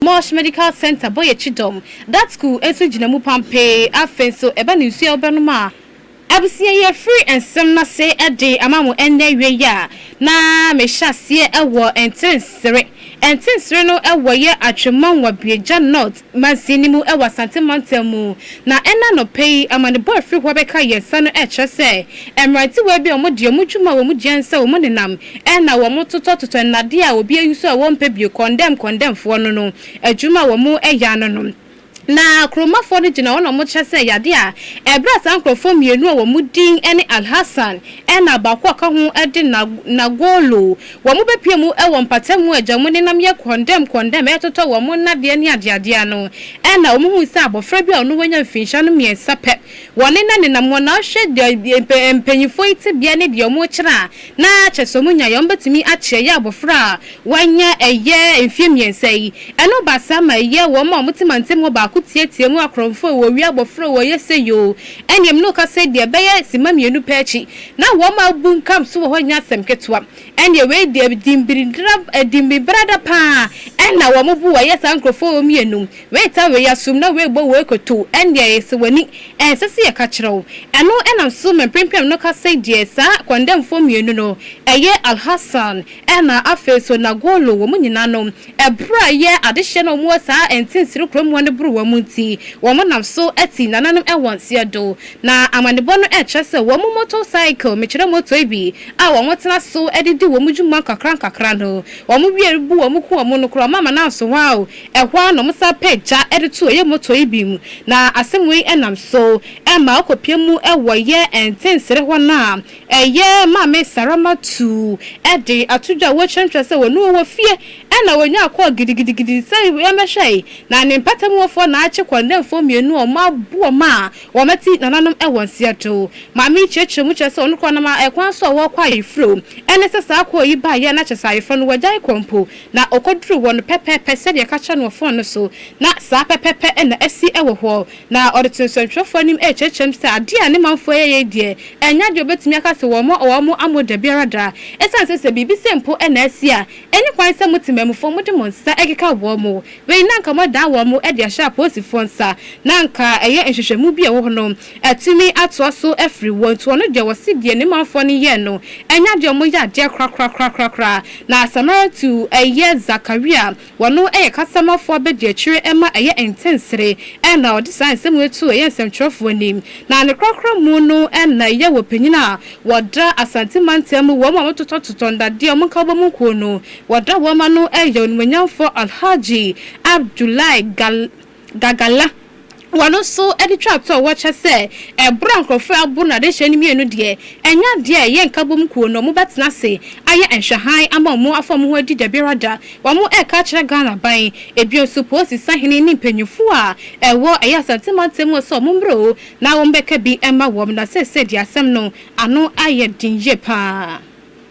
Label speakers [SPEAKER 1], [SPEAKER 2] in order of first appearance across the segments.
[SPEAKER 1] Mosh Medical Centre bɔ yɛ kyidɔm. Dat school nso gyina mu pampee. Afei nso, ɛba no nsuo a wobɛnom a. Abusua yi afiri nsɛm no ase de ama mo ɛnnɛ awiei a, na mehyɛ aseɛ wɔ Ntinsire. Ntinsire no wɔ yɛ Atwemmɔnwa Buegya North mansini no mu wɔ Asante mantam mu. Na ɛnnɛ anɔpa yi, amanebɔ a ɛfiri hɔ bɛka yɛn nsa no kyerɛ sɛ, mmerantewaa bi a wɔde wɔn dwuma a wɔn dua ne sɛ wɔn nenam Nna wɔtotɔtotɔ nnade a obi ewusow a wɔmmpɛ bio, kɔndɛm kɔndɛmfoɔ no no adwuma a wɔyɛ ano no. Na kurowmafoɔ no gyina hɔ na wɔkyɛ sɛ yade a ɛberɛ a saa nkorɔfoɔ mmienu a wɔn din ne Alhassan na baako a ɔka ho de Nagolo, wɔbɛpue mu wɔ mpatamu agya mu nenam yɛ kɔndɛm kɔndɛm retotɔ wɔn nnadeɛ ne adeadeɛ no, nna wɔhuu sɛ abɔfra bi a ɔno wanya mfinhyia no mmiɛnsa pɛ. Wɔnenanenam hɔ na wɔhwɛ deɛ mpanyinfoɔ yi tebea ne deɛ wɔkyerɛ a Na kyɛ sɛ wɔnya yɛ a, wɔbɛtumi akyerɛ yɛ abɔfra a wanya ɛyɛ mfeɛ mmiɛnsa yi. Ɛno ba saa ma ɛyɛ wɔn a wɔte mantam hɔ baako teateam mu, Akorɔmfoɔ oo, owia abɔfra oo, ɔyɛ sei oo. Ɛnneɛ me ne wo kasa yi deɛ, ɛbɛyɛ simma mmienu pɛ akyi na wɔn a abunkam nso wɔ hɔ nyɛ asɛm ketewa. Ɛnneɛ wei deɛ, dimmibirada pa ara na wɔbu wɔn, ɛyɛ saa nkurɔfoɔ a wɔyɛ nnum Woetaa wei asom na woebɔ wei kotow, ɛnde ayɛ sɛ w'ani nsɛ sɛ yɛka kyerɛ wo. Ɛno na nsoromma mpempem no ka sɛ deɛ saa kɔndɛmfoɔ mmienu no, ɛyɛ Al-Hassan ɛna afei so Nagolo, wɔn nyinaa no, ɛberɛ a ɛyɛ adehyeɛ na wɔn wɔ saa ntinsiri koromoa no boro wɔn nti, wɔn nam so ti nananom wɔ nseɛ do. Na amanebɔ no kyerɛ sɛ wɔn motor cycle, mekyerɛ motor yi bi a wɔn tena so de di wɔn dwuma nkakrankakra no, wɔn wie bu wɔn ku wɔn no koraa, wɔn amena nso hɔ ara o. Ɛhɔ ara na wɔsan pɛ gya de to ɔyɛ motor yi bi mu, na asɛm wei nam so ma ɔkɔpue mu wɔ yɛ Ntensere hɔ no a ɛyɛ Maame Sarama Tu de ato dwa a wɔkyerɛkyerɛ sɛ wɔne wɔ fie na wɔnyaa kɔɔ gidigidigidi sɛ yɛmmɛhwɛ yi, na ne mpatamuofoɔ Naakye Kɔndɛnfoɔ mmienu a wɔaboa ma wɔati nananom wɔ Nseɛdo. Maame yi kyerɛkyerɛ mu kyerɛ sɛ ɔno koraa ɔnam kwan so a wɔkɔ ayeforo, ɛne sɛ saa kɔɔ yi baeɛ na kyerɛ sɛ ayeforo no wɔagyae kɔ mpo, Na ɔkɔduruu hɔ no pɛpɛɛpɛ sɛdeɛ yɛka kyerɛɛ no wɔ fon no so, na saa pɛpɛɛpɛ na asi wɔ hɔ. Na ɔde too nsɛntwerɛfoɔ anim rekyerɛkyerɛ mu sɛ, Adeɛ a ne manfoɔ yɛyɛ yi deɛ, ɛnyɛ adeɛ a wɔbɛtumi aka sɛ wɔn a wɔwɔ mo amu dabiara da, ɛsiane sɛ sɛ biribi sei mpo na asi a, ɛnni kwan sɛ mote mmamufoɔ mode mo nsa keka wɔn. Wei na anka moadan wɔn de ahyɛ apolisifoɔ nsa, na anka ɛyɛ nhwehwɛmu bi a ɛwɔ hɔ no. Atumi atoa so afiri wɔ ntoɔ no deɛ wɔse deɛ ne manfoɔ no yɛɛ no anya deɛ wɔyɛ adeɛ korakorakorakorakora. Na Samaratu yɛ Zakaria, wɔno yɛ kasamafoɔ abadiakyire ɛma ɛyɛ ntensere ɛna ɔde saa nsɛm wei too ɛyɛ nsɛmtwerɛfoɔ anim. Na ne korakora mu no ɛna ɛyɛ wɔ panyin a wɔda Asante mantam mu wɔn a wɔtotɔtotɔ nnadeɛ wɔn nkabɔ mu nkuo no wɔda wɔn ano ɛyɛ onimuonyamfoɔ Alhaji Abdullahi Gal Gagala, Ɔno nso de twaa toɔ wɔ kyɛ sɛ ɛberɛ a nkorɔfoɔ rebo no adehyeɛ no mmienu deɛ, ɛnyɛ adeɛ a ɛyɛ nkabom kuo no wɔbɛtena ase ayɛ nhwɛhan ama wɔn afa wɔn ho adi dabiara da. Wɔreka akyerɛ Ghana aban, ebio nso polisi sahene ne mpanyinfoɔ a ɛwɔ ɛyɛ Asante mantam mu sɛ wɔn mmra o na wɔn bɛka bi mma wɔn na seesei deɛ asɛm no ano ayɛ den yie pa ara.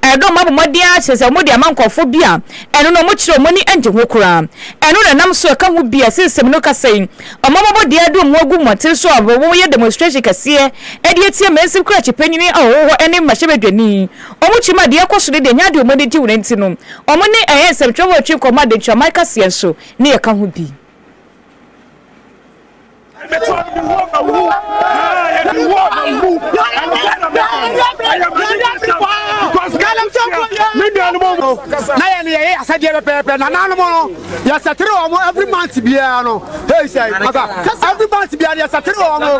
[SPEAKER 2] Ɛno mma bɔ mmɔden ara kyerɛ sɛ wɔde ama nkurɔfo bi a ɛno no wɔkyerɛ wɔn ani nnye ho koraa. Ɛno na ɛnam so ɛka ho bi a ɛsen nsɛm no kasa yi, Wɔn abɔbɔ deɛ de wɔn agu mmɔnten so a wɔyɛ demonstration kɛseɛ de atia Mansin Krakye panyin a ɔwɔ hɔ ne mmarahyɛbadwani yi. Wɔn kyim a deɛ ɛkɔ so ne deɛ ɛnyɛ ade a wɔn ani gye ho no nti no, wɔn ne ɛyɛ nsɛmtwerɛfoɔ a wɔtwe nkɔmmɔ a Adenkyiaman kaseɛ nso ne ɛka ho bi.
[SPEAKER 3] na yɛn yɛyɛ asɛdeɛ pɛpɛɛpɛ na nanom no yɛsɛtere wɔ mo every month biara no hei sɛ every month biara no yɛsɛtere wɔ mo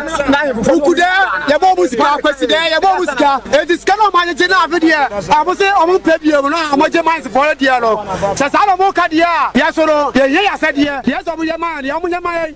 [SPEAKER 3] woku dɛ yɛbɔ ɔmo sika akwasi dɛ yɛbɔ ɔmo sika ɛnti sika no ɔmanyegye no afe deɛ ɔmo se ɔmo mpɛ biom no ɔmɔgye mansefoɔ no deɛ no sɛ saa na ɔmo ka deɛ a yɛso no yɛhia yɛ asɛdeɛ deɛ sɛ ɔmo yɛ ma yɛ deɛ ɔmo yɛ ma yɛ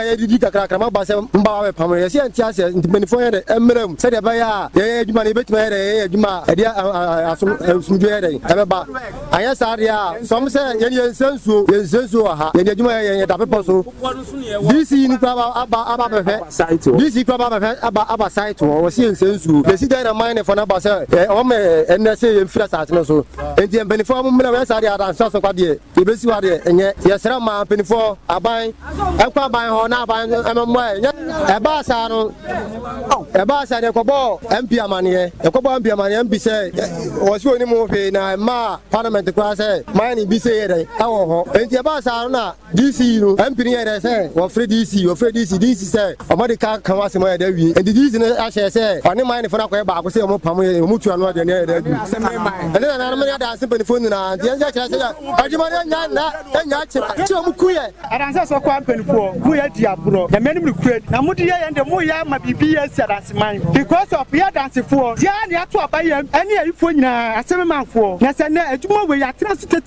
[SPEAKER 3] a yɛdidi kakrakra ma ba sɛ mma wɔabɛpam no, yɛsɛ yɛnte aseɛ nti mpanimfoɔ yɛ dɛn mmra mu sɛdeɛ ɛbɛyɛ a yɛyɛ adwuma no yɛbɛtumi ayɛ dɛn yɛyɛ adwuma a ɛde asomdwoeɛ yɛ dɛn ɛbɛba anyɛ saa deɛ a sɔm sɛ yɛne yɛnsɛ nsuo yɛnsɛ nsuo wɔ ha yɛde adwuma yɛ yɛda bepɔ so dc no kora aba aba bɛhwɛ dc kora aba bɛhwɛ aba aba site hɔ wɔsi yɛnsɛ nsuo yɛsi dɛn na man ne fɔ no aba sɛ wɔn ɛnnɛ sɛ yɛmfiri asase no so nti mpanimfoɔ mo mmra wɔyɛ saa deɛ adansa so kwadeɛ Yɛbɛsi hɔ a deɛ ɛnyɛ. Yɛsrɛ mmaa, mpanimfoɔ, aban nkɔ aban hɔ na aban mmɛmmɔ yɛn. Ɛbaa saa no, ɛbaa saa no yɛkɔbɔɔ MP amaneɛ. Yɛkɔbɔɔ MP amaneɛ, MP sɛ wɔn sɛ wɔnim ho hwee na ɛmmaa parliament koraa sɛ mayɛ no bi sei yɛ dɛn ɛwɔ hɔ. Enti ɛbaa saa no na DC no, MP no yɛɛ dɛn sɛ wɔfrɛ DC, wɔfrɛɛ DC, DC sɛ. Ɔma de ka ka ho asɛm ayɛ dɛ wie. Enti Jesus no ahyɛ sɛ ɔne Maenfo no akɔyɛ baako sɛ wɔpam yɛn, wɔtu ano aduane ayɛ dɛ adu. Ɛne nananom ne Adanse mpanyimfo nyinaa nteɛ nkyɛ kyerɛ sɛ yɛn adwuma no annya nna, annya akyi, nti na wɔku yɛn. Adanse Asɔkɔ mpanyimfo, moyɛ adi agorɔ. Nyame anim nokorɛ ni. Na mode yɛ yɛn de, moyɛ ama biribi yɛ asi adanseman. Because of yɛ Adansefoɔ, yɛn ara na yɛato aba yɛn ɛne ayifoɔ nyinaa, asememanfoɔ. Na sɛ nnɛ adwuma wei atena so tete.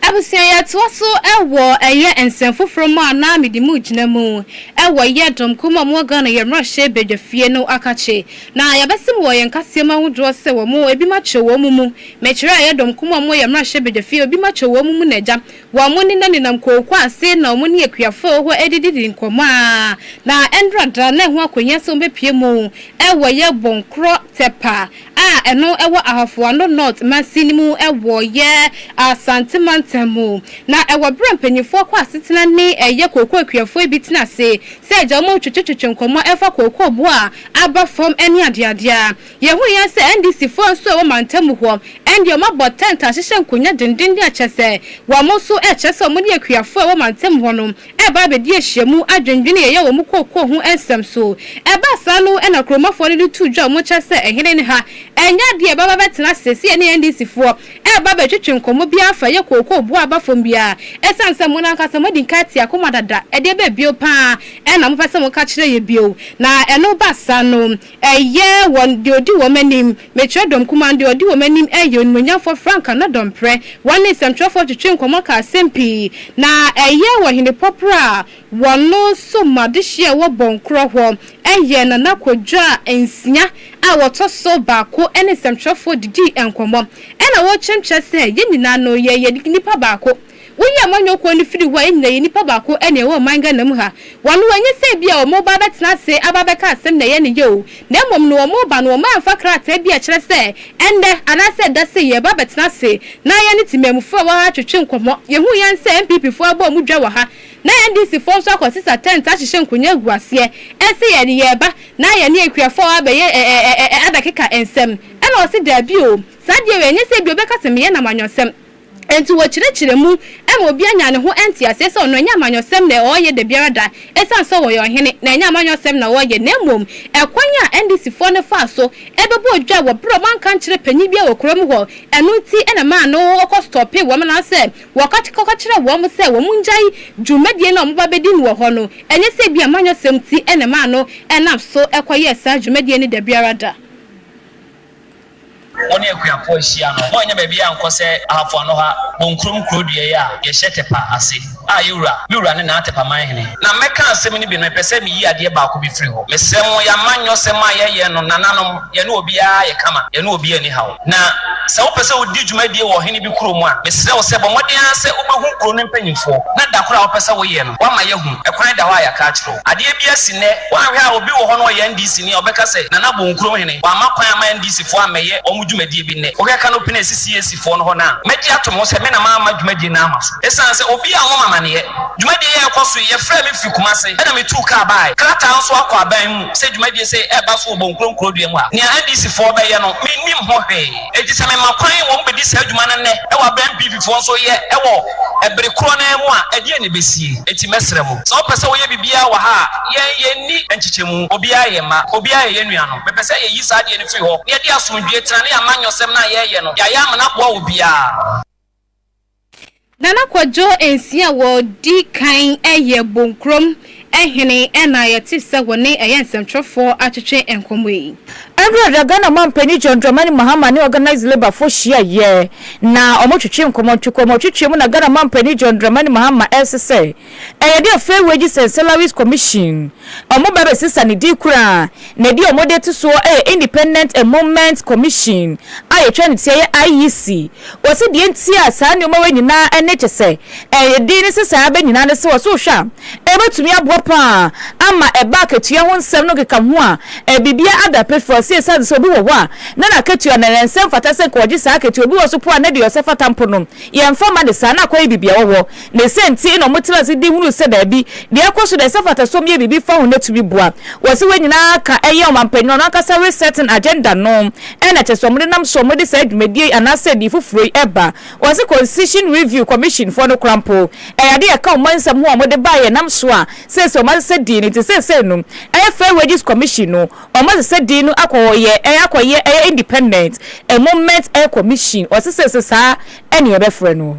[SPEAKER 2] Abusua
[SPEAKER 1] yɛtoa so wɔ ɛyɛ nsɛm foforɔ mu a na mede mu gyina mu wɔ yɛ dɔm kuo mu a ɔmo wɔ Ghana yɛ mmarahyɛ badwa fie no akakye na yɛbɛsem wɔ yɛn nkaseɛ mu ahodoɔ sɛ wɔ mo ebi makyerɛ wɔ ɔmo mu me kyerɛ a yɛ dɔm kuo mu a ɔmo wɔ yɛ mmarahyɛ badwa fie obi makyerɛ wɔ ɔmo mu na agya wɔ ɔmo ne na nenam kooko ase na ɔmo ne akuafoɔ a wɔ hɔ ɛdididi nkɔmɔ a na ɛndra da na ɛho akohia sɛ ɔmo bɛpue mu wɔ yɛ bɔnkorɔ tɛpa a ɛno wɔ Ahafo Ano North mansin no mu wɔ yɛ Asante mantam mu. Na ɛwɔ berɛ a mpanyinfoɔ kɔ asetena ne ɛyɛ kookoo kuafoɔ bi tena ase sɛ agya wɔn retwetwetwe nkɔmmɔ ɛfa kookoo boɔ a aba fam ɛne adeadeɛ a. Yɛhuiɛ sɛ NDC foɔ nso a ɛwɔ mantam mu hɔ ɛndeɛ wɔn abɔ tɛnt ahyehyɛ nkonya denden ne akyɛ sɛ wɔn nso ɛkyerɛ sɛ wɔn ne akuafoɔ a ɛwɔ mantam hɔ no reba abedi ahyiamu adwendwen a yɛyɛ wɔ mu kookoo ho nsɛm so. Ɛbaa saa no na kuromafo no de too dwa mu kyɛ sɛ ɛhene no ha ɛnyɛ ade a ɛbɛba abɛtena ase sɛ yɛne NDC foɔ reba abɛtwetwe nkɔmmɔ biara fa ɛyɛ kookoo boɔ a ɛba fam biara ɛsiane sɛ mo no ankasa moadi nka atia akoma dada ɛdeɛ bɛn bio paa na mopɛ sɛ moka kyerɛ yɛn bio na ɛno ba saa no Ɛyɛ wɔn, deɛ ɔdi wɔn anim, mekyerɛ dɔm kumaa no, deɛ ɔdi wɔn anim yɛ onimuonyamfoɔ frankaa no dɔmprɛ. Wɔne nsɛmtwerɛfoɔ twetwee nkɔmmɔ kaa asɛm pii, na ɛyɛ wɔ Hene Pɔprɔ a wɔno som adehyeɛ a ɛwɔ Bɔnkorɔ hɔ, ɛyɛ Nana Kwadwo a nsia a wɔtɔ so baako ne nsɛmtwerɛfoɔ didii nkɔmmɔ. Ɛna wɔkyerɛmkyerɛ sɛ yɛn nyinaa no yɛyɛ nnipa baako. Wonyi amanyɔkuo no firi hɔ a, yɛn nyinaa yɛ nnipa baako na yɛwɔ ɔman Ghana mu ha. Wɔn ho enye sɛ ebia wɔn reba abɛtena ase aba abɛka asɛm na ɛyɛ no yɛ o, na mmom no wɔn reba no wɔamfa krataa bi a ɛkyerɛ sɛ ɛnnɛ anaasɛ ɛda sei yɛreba abɛtena ase na yɛne temamufoɔ a ɛwɔ ha atwetwe nkɔmmɔ. Yɛhuu yɛn sɛ NPP foɔ abɔ wɔn dwa wɔ ha na NDC foɔ nso akɔsesa tɛnt ahyehyɛ nkonnwa agu aseɛ ɛse yɛn yɛreba na yɛne akuafoɔ a wɔabɛyɛ adakeka nsɛm ɛna wɔse daabi o saa deɛ wei ɛnyɛ sɛ ebia wɔbɛka sɛ meyɛ no amanyɔsɛm. Enti wɔkyerɛkyerɛ mu ma obiara nya ne ho nteaseɛ sɛ ɔno ɛnyɛ amanyɔsɛm na ɔreyɛ da biara da ɛsiane sɛ ɔyɛ ɔhene na ɛnyɛ amanyɔsɛm na ɔreyɛ na mmom ɛkwan a NDC foɔ no faa so bɛbɔɔ dwa wɔ berɛ a wɔanka nkyerɛ panin biara wɔ kuro mu hɔ ɛno nti na ɛmaa no kɔ stɔpee wɔn na sɛ wɔkɔka kyerɛɛ wɔn sɛ wɔn ngyae dwumadie no a wɔba bɛdi no wɔ hɔ no ɛnyɛ sɛ ebia amanyɔsɛm nti na ɛmaa no nam so kɔyɛɛ saa dwumadie no da biara da.
[SPEAKER 4] Wo ne akuapɔn ahyia no, hɔ nyɛ baabi a nkɔ sɛ ahafo ano ha, Bonkurom kuro dua yi a yɛhyɛ Tepa ase, a yɛwura, me wura ne Naa Tepa man hene. Na mmɛka asɛm no bi no, mepɛ sɛ meyi adeɛ baako bi firi hɔ. Mesrɛ mo, yɛn amanyɔsɛm a yɛyɛ no, nananom, yɛne obiara yɛ kama, yɛne obiara nni haw. Na sɛ wopɛ sɛ wodi dwumadie wɔ ɔhene bi kurom a, mesrɛ wo sɛ bɔ mmɔden ara sɛ wobɛhu kuro no mpanimfoɔ, na da koro a wopɛ sɛ woyɛ no, woama yɛahu. Ɛkwan da hɔ a yɛaka akyerɛ wo. Adeɛ bi asi nnɛ, woanhwɛ a obi wɔ hɔ no ɔyɛ NDC ni a ɔbɛka sɛ Nana bɔ Nkurom hene, wamma kwan amma NDC foɔ ammɛyɛ wɔn dwumadie bi nnɛ. Wohwɛ canopy no a ɛsi CAC foɔ no hɔ no a, mɛgye atom ho sɛ me na mamma dwumadie no amma so. Ɛsiane sɛ obi ammɔ me amaneɛ. Dwumadie yi a ɛrekɔ so yi, yɛfrɛɛ me firi Kumasi ɛna metuu kaa baae. Krataa nso akɔ aban mu sɛ dwumadie sei ɛreba so wɔ Bɔ Nkurom kurodua mu a nea NDC foɔ bɛyɛ no, mennim ho hwee. Enti sɛ mema kwan ma wɔbedi saa dwuma no nnɛ wɔ bere a Mpififoɔ nso reyɛ wɔ bere korɔ no ara mu a, ɛdeɛn na ɛbɛsie? Enti mɛsrɛ mo, sɛ wɔpɛ sɛ wɔyɛ biribiara wɔ ha a, yɛn, yɛnni nkyekyɛmu. Obiara yɛ yɛn mma. Obiara yɛ yɛn nuanom. Mepɛ sɛ yɛyi saa adeɛ no firi hɔ, na yɛde asomdwoeɛ tena, na yɛamanyɔsɛm no a yɛreyɛ no, yɛayɛ amena aboa obiara.
[SPEAKER 1] Nana Kwadwo nsia a wɔdi kan yɛ Bonkurom hene na yɛte sɛ wɔne ɛyɛ nsɛmtwerɛfoɔ atwetwe nkɔmmɔ yi. Ɛberɛ a Ghana
[SPEAKER 2] Ɔmanpanin John Dramani Mahama ne Organised Labour foɔ hyiaeɛ na wɔtwetwee nkɔmmɔ, ntwekɔmmɔ twetwee mu na Ghana Ɔmanpanin John Dramani Mahama ɛresesɛ Ɛyɛ dɛ Fair Wages and Salaries Commission, wɔn ba bɛsesa ne din koraa, na edin a wɔde to soɔ yɛ Independent Emoluments Commission a yɛtwerɛ no tiaa yɛ IEC. Wɔse deɛ nti a saa nnoɔma wei nyinaa ne kyɛ sɛ edin no sɛ saa bɛ nyinaa ne sɛ wɔse wohwɛ a ɛbɛtumi aboa pa ara ama ɛba akatua ho nsɛm no keka ho a biribiara ada pefee. Wɔse ɛsiane sɛ obi wɔ hɔ a na n'akatua no ɛnsɛ mfata sɛ nka wɔgye saa akatua, obi wɔ so mpo a na deɛ ɔsɛ fata mpo no yɛmfa mma no saa na akɔyɛ biribi a ɔwɔ Ne sɛ nti na wɔtra ase di hunu sɛ baabi deɛ ɛkɔ so deɛ sɛ mfatasoɔ yɛ biribi fa ho na tumi boa. Wɔ sɛ wei nyinaa ka ɛyɛ ɔmanpanin no ankasa resetting agenda no ɛna ɛkyɛ sɛ wɔde nam soɔ wɔde saa dwumadie yi anaa sɛ din foforɔ yi ɛba. Wɔ sɛ Constitution Review Commission foɔ no koraa mpo ɛyɛ adeɛ a ɛka ɔman nsɛm ho a wɔde baeɛ ɛnam so a seesei wɔn asesa din no nti seesei no ɛyɛ Fair Wages Commission no wɔn asesa din no akɔ yɛ ɛyɛ akɔ yɛ ɛyɛ Independent Emolment ɛyɛ Commission wɔ sɛ seesei saa ɛne yɛbɛfrɛ no.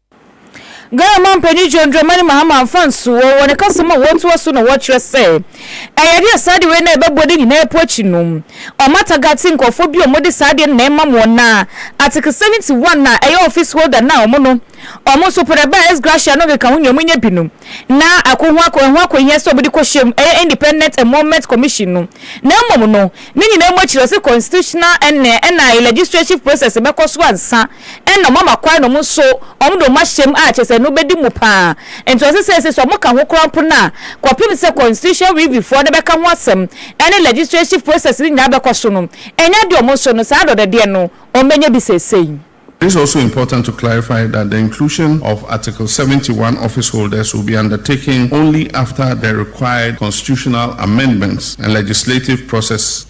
[SPEAKER 2] Ghana Manpanin John Dramani Mahama amfa anso wɔ wɔ ne kasa mu a wɔatoa so na wɔkyerɛ sɛ ɛyɛ adeɛ a saa adeɛ wei na ɛbɛboa de nyinaa po akyi no ɔmata gate nkurɔfoɔ bi a wɔde saa adeɛ no na ɛmam wɔn na atekesɛm nti wɔn a ɛyɛ office holder no a wɔn no wɔn nso pɛ dɛ bɛɛ ex gratia no nkeka ho nyɛ wɔn nyɛ bi no na ako ho ako ɛho akohia sɛ wɔde kɔhyɛm ɛyɛ independent enrollment commission no na mmom no ne nyinaa mu akyiri ɔse constitutional ɛnɛ ɛna legislative process bɛkɔ so ansa nna ɔma ma kwan na ɔmo so ɔmo de ɔmo ahyɛ mu a kyerɛ sɛ no bɛdi mu paa nti ɔse sɛɛsei so ɔmo ka ho koraa mpo no a kɔpem sɛ constitution review foɔ no bɛka ho asɛm ɛne legislative process no nyinaa bɛkɔ so no ɛnyɛ adeɛ ɔmo nso no saa adɔdɔdeɛ no ɔmo bɛnya bi sɛɛsei. It is also
[SPEAKER 5] important to clarify that the inclusion of Article seventy one office holders will be undertaken only after the required constitutional amendments and legislative process.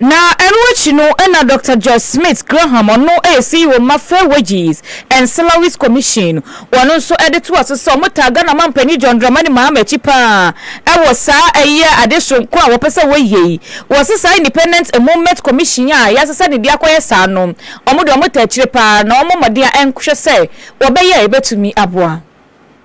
[SPEAKER 5] Na
[SPEAKER 2] ɛno akyi no na Dɔkta George Smith Graham, ɔno yɛ CEO ma Fair Wages and Salaries Commission, ɔno nso de toa so sɛ wɔtaa Ghana Mampanyin John Dramani Mahama akyi pa ara wɔ saa ɛyɛ ade soronko a wɔpɛ sɛ wɔyɛ yi. Wɔse saa Independent Emolment Commission a wɔase sɛ ne de akɔyɛ saa no, wɔde wɔtaa akyire pa ara na wɔmmɔ mmɔden a ɛnhwɛ sɛ wɔbɛyɛ a ɛbɛtumi aboa.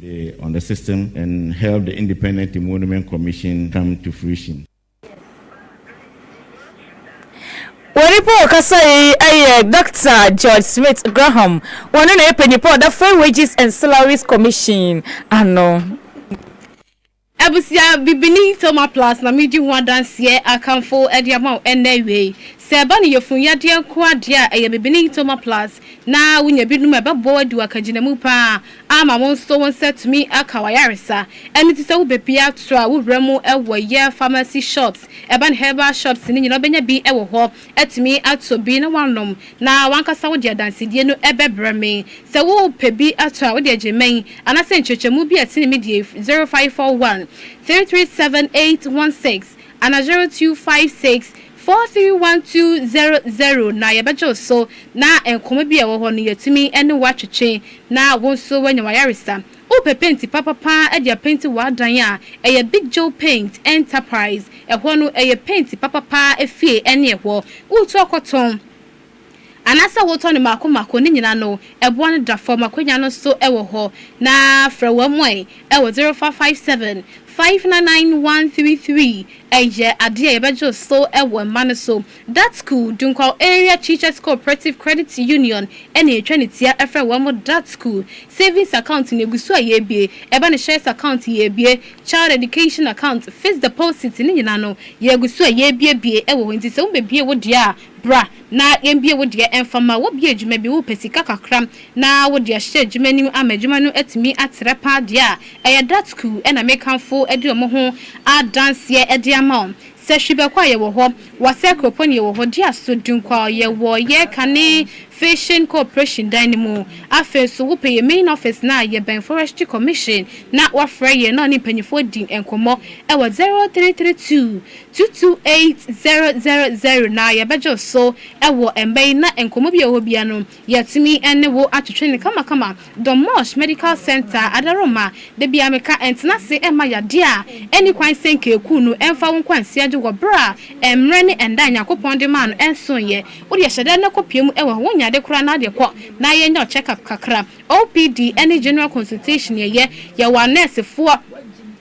[SPEAKER 6] de on the system and help the independent emolument commission come to fruition.
[SPEAKER 2] Wɔn nipa a ɔkasa yi yɛ Dɔkta George Smith Graham, ɔno na yɛ panyinpa a ɔda Fair Wages and Salaries Commission ano. Abusua,
[SPEAKER 1] Bibini Thelma Platts na meredi ho adanseɛ akamfo de ama wo ɛnnɛ awiei. Sɛ ɛba no yafunu yadeɛ nkoa deɛ a, ɛyɛ Bibini Thelma Platts na wonya binom a ɛbɛboa wo adi w'akagyinamu pa ara ama wo nso wo nsa atumi aka w'ayaresa. Ɛno nti sɛ wo bɛ bi ato a wo wura mu wɔ yɛ pharmacy shops, urban herbal shops no nyinaa wobɛnya bi wɔ hɔ. atumi atɔ bi na woanom na w'ankasa wode adansedie no bɛbrɛ me. Sɛ wopɛ bi atɔ a, wode agye mmɛn anaasɛ nkyerɛkyerɛmu bi a ɛtene me deɛ firi zero five four one, three three seven eight one six ana zero two five six, four three one two zero zero na yɛbɛgye wo so na nkɔmmɔ bi a ɛwɔ hɔ no yɛatumi ne wo atwetwe na wo nso woanya w'ayaresa Wopɛ penti papa paa de apenti w'adan a, ɛyɛ Big Joe Paint Enterprise. Ɛhɔ no, ɛyɛ penti papa paa afie ɛne ɛhɔ. Wotu akɔtɔn anaasɛ wotɔ no mako mako, ne nyina no, ɛboɔ no da fam, akwanya no nso wɔ hɔ. Na frɛ wɔn ɛ wɔ 0457 599 133. Ɛyɛ adeɛ a yɛbɛgye wo so wɔ mma no so. Datsku, Dunkwaw Area Teachers Cooperative Credit Union na etwa ne tia frɛ wɔn Datsku, Savings Account ne egu so a yɛabue, ɛba no Shares Account yɛabue, Child Education Account, Fixed Deposit ne nyinaa no yɛagu so a yɛabuebue wɔ hɔ nti sɛ wobɛbue wo deɛ a bra na yɛmbue wo deɛ mfa ma wo bue adwuma bi wopɛ sika kakra na wode ahyɛ adwuma no mu ama adwuma no atumi atrɛ paa deɛ a ɛyɛ Datsku na mekamfo de wɔn ho adanseɛ de ama wo Sɛ hwi bɛkɔ a yɛwɔ hɔ, Wasɛ kuropɔn yɛwɔ hɔ, Diaso Dunkwao yɛwɔ yɛ kane Fishing Cooperation dan no mu. Afei nso wopɛ yɛ main office no a yɛbɛn Forestry Commission na woafrɛ yɛn na ɔne mpanyinfoɔ adi nkɔmmɔ ɛwɔ 0332 228 000 na yɛbɛgye wo so ɛwɔ ɛmba yi na nkɔmmɔ bi a ɛwɔ hɔ biara no Yɛatumi ne wo atwetwe no kamakama. Dommorsch Medical Centre adaworoma, da biara meka, ɛntena ase mma yadeɛ a ɛnni kwan sɛ nkaakuu no mfa wo nkwansia gye wɔ berɛ a mmerɛ ne ɛnda a Nyankopɔn de maa no ɛnsoeɛ. Wodeɛ hyɛ da na kɔpue mu wɔ hɔ, wonyɛ ade koraa na wodeɛ kɔ na yɛnyɛ wo check up kakra. OPD ne General Consultation yɛyɛ, yɛwɔ anɛɛsefoɔ,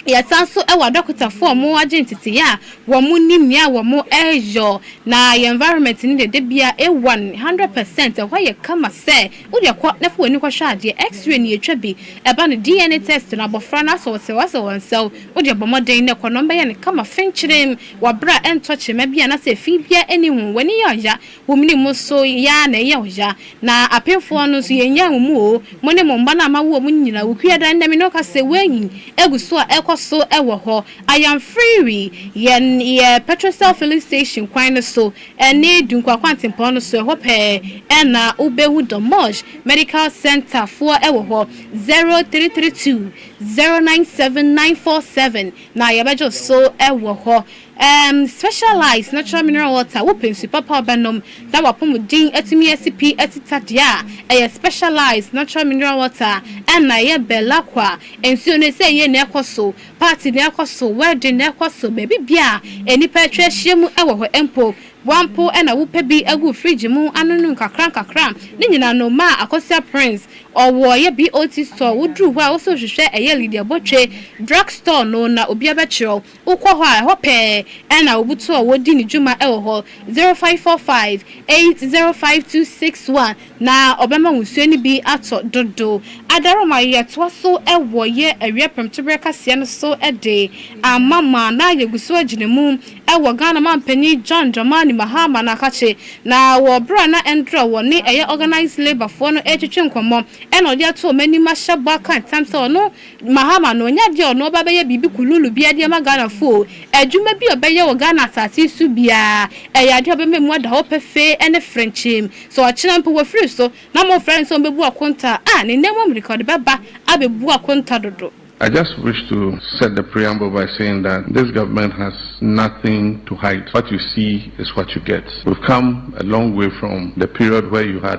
[SPEAKER 1] yɛsan nso wɔ adɔkotafoɔ a wɔn agye nteteeɛ a wɔn nim nea wɔn reyɔ na yɛn environment no deɛ da bia ewan hundred percent ɛhɔ yɛ kama sɛ wo deɛ kɔ na fa w'ani kɔ hwɛ adeɛ x-ray no yɛtwa bi ɛba no DNA test no abɔfra no asɔ ɔsɛw asɛw ɔnsɛw wo deɛ bɔ mmɔden na kɔ na wɔn bɛyɛ no kama fenkyerem wɔ bere a ɛntɔ kyema bia anaa sɛ fii biara nni ho w'ani yɛ ɔya Wo mene mo so yaa na ɛyɛ ɔya. Na apemfoɔ no nso yɛnyaa mo mu o, mo ne mo mma no a moawo wɔn no nyinaa. Wo Kuada no Nyame no ka sɛ, Wei gu so a ɛkɔ so wɔ hɔ. I am Freewi. Yɛn yɛ Petrocel Filling Station kwan no so ne Dunkwa kwantempɔn no so. Ɛhɔ pɛɛ na wo bɛhu Dommoj Medical Centre foɔ wɔ hɔ. 0332 097947 na yɛbɛgye wo so wɔ hɔ. Erm specialized natural mineral water wopɛ nsu papa wobɛnom na wapomuden atumi asi pi atita deɛ a ɛyɛ specialized natural mineral water ɛna ɛyɛ belakwa nsuo no sɛ yie na ɛkɔso party na ɛkɔso wedding na ɛkɔso baabi bia a nipa atwa ahyia mu ɛwɔ hɔ mpo boa mpo ɛna wopɛ bi agu fridge mu anono nkakra nkakra ne nyina no maa akosua prince ɔwɔ ɛyɛ BOT store woduru hɔ a wosɛ wohwehwɛ ɛyɛ Lydia Botwe drug store no na obia bɛkyerɛw Wokɔ hɔ a, ɛhɔ pɛɛ na obutuo a wɔdi ne dwuma wɔ hɔ, 0545805261, na ɔbɛma wo nsuo no bi atɔ dodo. Adarooma, Yɛtoa so wɔ yɛ awia prɛmtoberɛ kaseɛ no so de ama mo a na yɛgu so agyina mu wɔ Ghana Manpanin John Dramani Mahama no akakye, na wɔ berɛ a na Ndrɔ wɔ ne ɛyɛ Organised Labour foɔ no retwetwe nkɔmmɔ na ɔde ato wɔn anim ahyɛ bɔ aka ntam sɛ ɔno Mahama no ɔnya deɛ ɔno ɔba bɛyɛ biribi kululu biaa de ama Ghana foɔ o, adwuma bi a ɔbɛyɛ wɔ Ghana asase yi so biaa ɛyɛ adeɛ a ɔbɛma ɛmu ada hɔ pɛfee ɛne frenkyeem. Sɛ ɔkyena mpo wafiri so na mo frɛ no sɛ ɔmbɛbu akonta a, ah, ne nna mu mmirika ɔde bɛba abɛbu akonta dodo. I just wish to
[SPEAKER 5] set the preamble by saying that this government has nothing to hide, what you see is what you get, we've come a long way from the period where you had.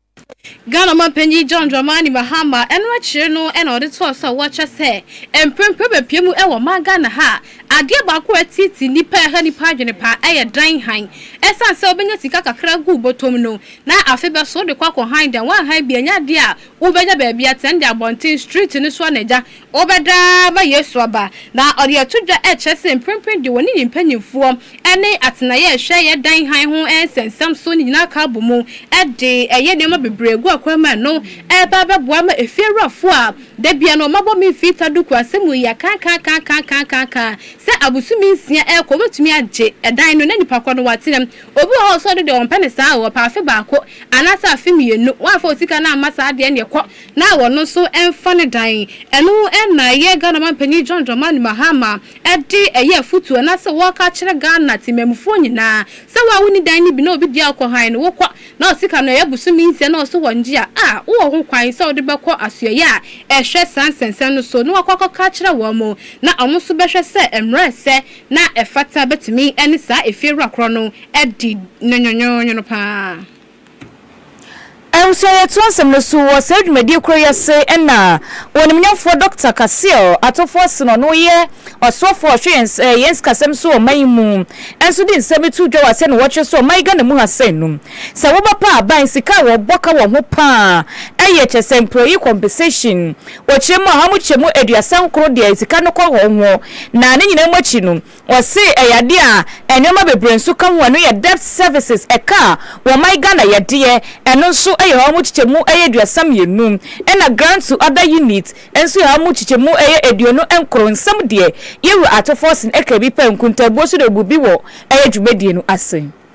[SPEAKER 1] Ghana ɔmampanyin John Dramani Mahama ɛno akyire no na ɔde toa so a wɔkyerɛ sɛ mprempren bɛpue mu wɔ ɔman Ghana ha a adeɛ baako a ɛtete nnipa ɛha nnipa adwene paa ɛyɛ dan han ɛsiane sɛ wobɛnya sika kakra guu bɔtɔm no na afe bɛso wode kɔ akɔ han dan woanhan bi ɛnyɛ adeɛ a wobɛnya baabi atɛn de abɔnten street no so a na agya Wɔbɛda ma Yesu aba. Na ɔde ato dwa rekyerɛ sɛ mprempren de wɔne ne mpanyimfoɔ ne atenaeɛ a ɛhwɛ yɛn dan hann ho nsɛnsɛm so no nyinaa ka bɔ mu de yɛ nneɛma bebree gu akwan mu a ɛno reba abɛboa ama efiewurafoɔ a da biara wɔabɔ me mfita duku ase mu yɛ kankankankankankanka sɛ abosome nsia rekɔ wɔbɛtumi agye dan no na nnipa korɔ no wɔatena mu. Obi wɔ hɔ a ɔsɔre no deɛ wɔmpɛ no saa o, ɔpɛ afe baako anaasɛ afe mmienu, woamfa wo sika no amma saa deɛ ɛneɛ kɔ na ɔno nso mfa ne dan. Ɛno na ɛyɛ Ghana Mampanyin John Dramani Mahama de ɛyɛ afotuo anaasɛ ɔreka akyerɛ Ghana temanmufoɔ nyinaa sɛ wo a wonni dan no bi na obi deɛ a wokɔ hann no wokɔ na wo sika no ɛyɛ bosome nsia na ɔso wɔ ngye a a wowɔ ho kwan sɛ wode bɛkɔ asoɛeɛ a ɛhwɛ saa nsɛnsɛm no so na wakɔ akɔka akyerɛ wɔn na wɔn nso bɛhwɛ sɛ mmara a ɛsɛ na ɛfata bɛtumi ne saa efiewura korɔ no adi no nwonwonwono pa ara. Ɛnso
[SPEAKER 2] yɛ to asɛm no so wɔ saa dwumadie korɔ yi ase ɛna Onimnyamfoɔ Dɔkta Kaseal Atofo Asen a ɔno yɛ Ɔsoɔfoɔ a ɔhwɛ yɛn yɛn sikasɛm so wɔ ɔman yi mu ɛnso de nsɛm bi to dwa wɔ aseɛ na wɔkyerɛ sɛ ɔman yi Ghana mu ha sɛn nom sɛ wo ba pɛ aban sika a wɔ bɔ ka wɔ ho paa ɛyɛ kyɛ sɛ employee compensation ɔkyerɛ mu a ha mo kyɛ mu aduasa nkoro deɛ sika no kɔ hɔ ho na ne nyinaa mu akyi no Wɔse ɛyɛ adeɛ a nnoɔma bebree nso ka ho, ɛno yɛ debt services, ɛka a wɔman Ghana yɛ deɛ, ɛno nso yɛ hɔ mu kyekyɛmu ɛyɛ aduasa mmienu, ɛna grant to other unit nso yɛ hɔ mu kyekyɛmu ɛyɛ aduonu nkron, nsɛm deɛ Yɛwura Ato Forson ɛka bi pɛ, nkuntaabuo nso deɛ ɔbu bi wɔ ɛyɛ dwumadie no ase.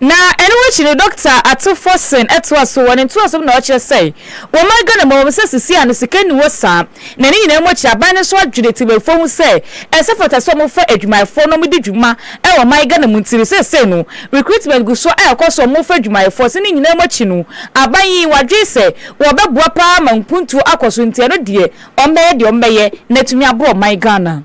[SPEAKER 7] Na
[SPEAKER 2] ɛno akyi no, Dɔkta Ato Forson toa so wɔ ne ntoaso mu na ɔkyerɛ sɛ, wɔ ɔman Ghana mu, ɛwom sɛ seesei a no sika nni hɔ saa, na ne nyinaa mu akyi, aban no nso adwene temamufoɔ ho sɛ ɛsɛ fata sɛ wɔfa adwumayɛfoɔ na wɔdi dwuma wɔ ɔman Ghana mu nti no, seesei no, recruitment gu so a ɛkɔ so a wɔfa adwumayɛfoɔ so. Ne nyinaa mu akyi no, aban yi, wɔadwene sɛ wɔbɛboa pa ara ama mpuntuo akɔ so nti, ɛno deɛ, wɔbɛyɛ deɛ wɔbɛyɛ na atumi aboa ɔman Ghana.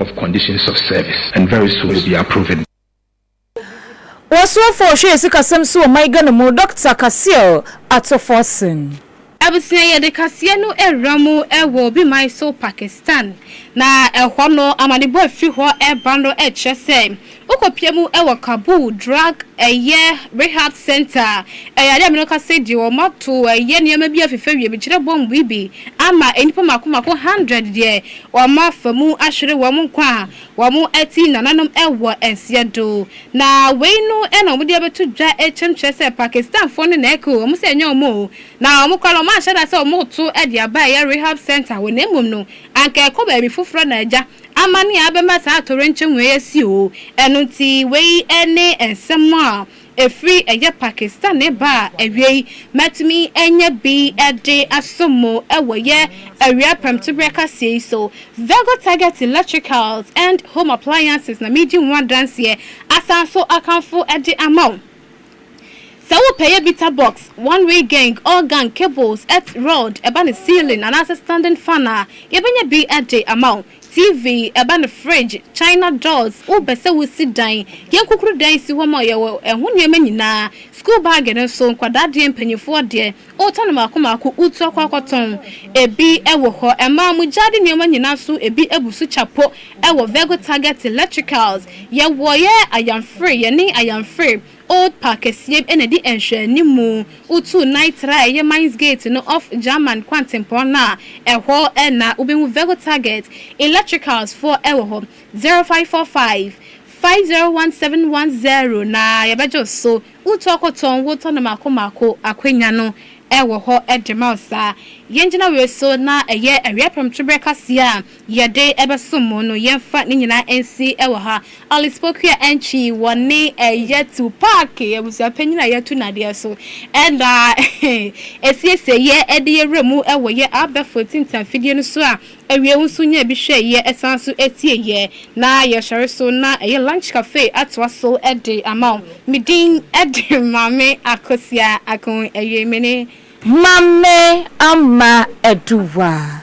[SPEAKER 7] of conditions of service and very soon you'll be approved.
[SPEAKER 2] Ɔsoafo a ɔhwɛ asikasɛm so wɔ ɔman Ghana mu, Dɔkta Kaseal Atuforsen. Abusua
[SPEAKER 1] Yɛde kaseɛ no awura mu wɔ obi man so Pakistan, na ɛhɔ no amanebɔ a ɛfiri hɔ reba no kyerɛ sɛ Wokopia mu wɔ Kabul drug ɛyɛ rehab center a ɛyɛ ade a mene wo kasa yi deɛ wɔn ato ɛyɛ nneɛma bi afifɛ wie mekyerɛ bomb yi bi ama nnipa mako mako hundred deɛ wɔn afa mu ahwere wɔn nkwa a wɔn ati nananom wɔ nseɛ do na wei no na wɔn de abɛto dwa kyɛm kyerɛ sɛ Pakistan foɔ no na ɛku wɔn sɛ ɛnyɛ wɔn o na wɔn kora no wɔn anhyɛ da sɛ wɔn reto de aba ɛyɛ rehab center wɔ na mmom no anka ɛkɔ baabi foforɔ na agya Amane a ɛbɛma saa atoyerɛnkyɛm wei asi oo. Ɛno nti, wei ne nsɛm a ɛfiri ɛyɛ Pakistani ba a awiei matumi anya bi de asom mo wɔ yɛ awia prɛmtoberɛ kaseɛ yi so. Vego Target Electricals and Home Appliances na meedi ho adanseɛ asan nso akamfo de ama wo. Sɛ wopɛ yɛ bita box, one way geng, all gang, cables, et rod, ɛba no ceiling anaasɛ standing fan a, yɛbɛnya bi de ama wo. TV, ɛba no fridge, china doors, wopɛ sɛ wosi dan, yɛn kukurudan si hɔ ma wo, yɛwɔ ɛho nneɛma nyinaa. Sukuu baage no nso, nkwadaa deɛ, mpanimfoɔ deɛ, Wotɔ no mmaako mmaako, wotu akɔ akɔtɔn. Ebi wɔ hɔ, ɛmaa mo gyaade nneɛma nyinaa so, ebi abu so kya po wɔ Vego Target Electricals. Yɛwɔ yɛ Ayamfre, yɛne Ayamfre Old Park kɛseɛ bi na ɛdi nhwɛanimu. Wotu Nitra a ɛyɛ Mines Gate no off German kwantempɔn no a, ɛhɔ na wobɛhu Vego Target Electricals foɔ wɔ hɔ. 0545 501 710 na yɛbɛgye wo so. Wotɔkotɔn wo tɔno mako mako akwanya no wɔ hɔ de ma wo saa. Yɛn gyina wei so na ɛyɛ awia prɛmto berɛ kaseɛ a yɛde bɛsom mo no yɛmfa ne nyinaa nsi wɔ ha. Alice Pokuah Antwi wɔ ne Yɛtu Paake abusua panyin a yɛtu nadeɛ so na ɛsiesie yɛ de yɛ wura mu wɔ yɛ abɛfo tinta afidie no so a Awiei wo nso nya bi hwɛ yɛ san so tie yɛ na yɛ sɔre so na ɛyɛ lunch cafe atoa so de ama wo. Me din de Maame Akosua Akon Awiei me ne. Maame Ama Aduwa.